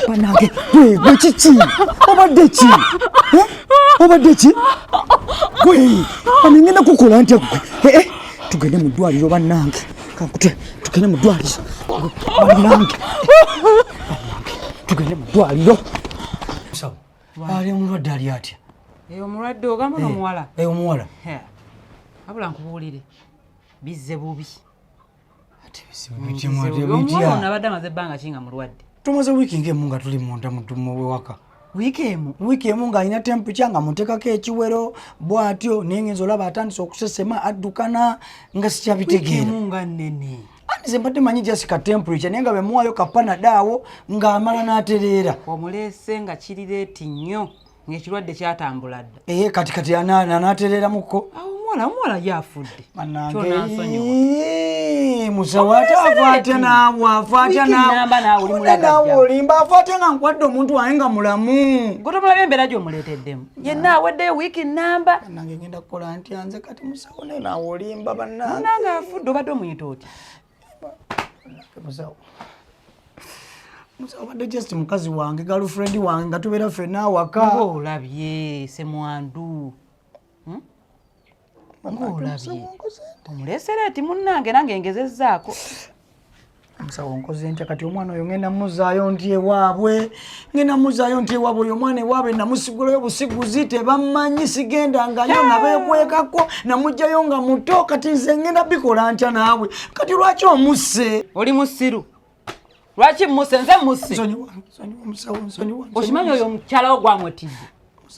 banange gwe kiki obadde ki obadde ki gwe anengenda kukola ntya gwe tugende mu ddwaliro banange kankutwe tugende mu ddwaliro banange tugende mu ddwaliro ali omulwadde ali atya eh, omulwadde ogamba eh, nomuwala eh, omuwala abula nkubuulire bizze bubi omwana abadde amaze ebbanga ki nga mulwadde tumaze wiiki ngaemu nga tuli munda mudumu wewaka wiiki emu wiiki emu ng'alina temperature nga muteekako ekiwero bw'atyo naye ngenza olaba atandise okusesema addukana nga sikyabitegeera nga nnene andi ze mbadde manyi just ka temperature naye nga bemuwaayo kapanadaawo ng'amala n'atereera omuleese nga kirireeti nnyo ng'ekirwadde kyatambula dda ee kati kati anaatereeramuko awo omuwala omuwala ye afudde musawaataafaatya naawe afaatya naawe olimba afaatya nga nkwadde omuntu wange nga mulamu gotomulabe embeera gyomuleeteddemu yenna aweddeyo wiiki namba nange ngenda kukola ntya nze kati musawo naye naawe olimba bannange afudde obadde omuyita otya musawo musawo badde just mukazi wange girlfriend wange nga tubeera ffena awaka olabye semwandu hmm? omulesera ati munnange nange ngezezaako musawo nkoze ntya kati omwana oyo ngenda muzaayo nti ewaabwe ngenda muzayo nti ewaba oyo omwana ewaabe namusigulayo busiguzi tebammanyi sigenda ngayo nabekwekako namugjayo nga muto kati nze ngenda bikola ntya naawe kati lwaki omusse oli musiru lwaki musse nze musse okimanyi oyo omukyalawo gwamwetidde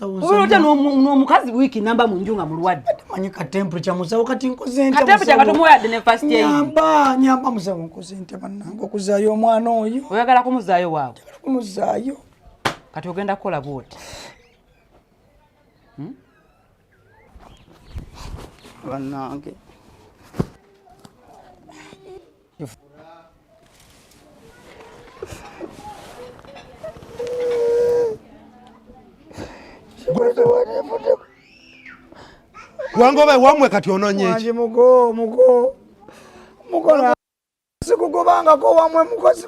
obeera otya n'omukazi wiiki namba mu nju nga mulwadde manyi katemperature musawo kati nkoze ntya katemperature nga tomuwayadde ne first aid nyamba nyamba musawo nkoze ntya bannange okuzaayo omwana oyo oyagala kumuzaayo waawe njagala kumuzaayo kati ogenda kukola bwoti hmm? bannange wangoba wamwe kati ononye mugo mugo mugo sikugobangako wamwe mukozi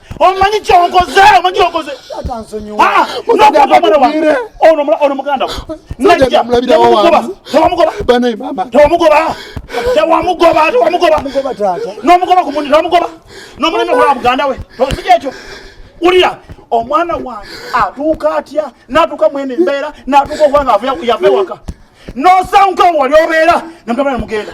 omanyi kyokoze omanyi kyokoze ah, ono muganda nomugoba kumundi nomugoba nomuleme kulaba muganda we tosiki ekyo ulira omwana wange atuuka atya natuuka mwene embeera natuuka okuba nga yava ewaka nosanguka wali obeera namugenda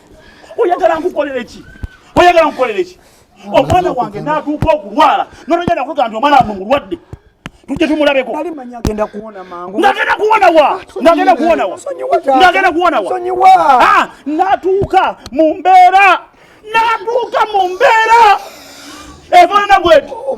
oyagala nkukolere ki oyagala nkukolere ki omwana wange natuuka okulwala nononyana kuga nti omwana wange mulwadde tujja tumulabeko ngagenda kuwona wa ngagenda kuwona wa ngagenda kuwona wa ah, natuuka mu mbeera natuuka mu mbeera efanana bweti oh,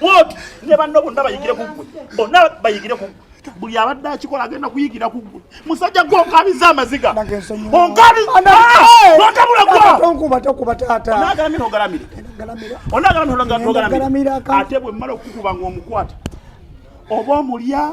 bwoti ne banno bonna bayigire ku ggwe bonna bayigire ku ggwe buli abadde akikola agenda kuyigira ku ggwe musajja gwe onkabiza amaziga onkabizaagalamira ate bwe mmala okukuba ngaomukwata oba omulya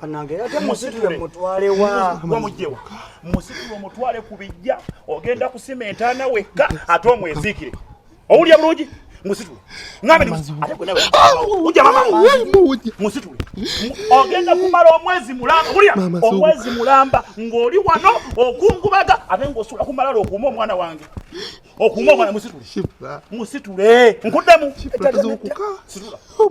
banange ate musitule mutwale wa wamujewa musitule mutwale ku bijja ogenda kusima entaana wekka ate omweziikire owulira bulungi musitule ngame ate gwe nawe ujja mama musitule ogenda kumala omwezi mulamba wulira omwezi mulamba ng'oli wano okungubaga ate ng'osula ku malala okuuma omwana wange okuuma omwana musitule musitule nkuddemu situla oh,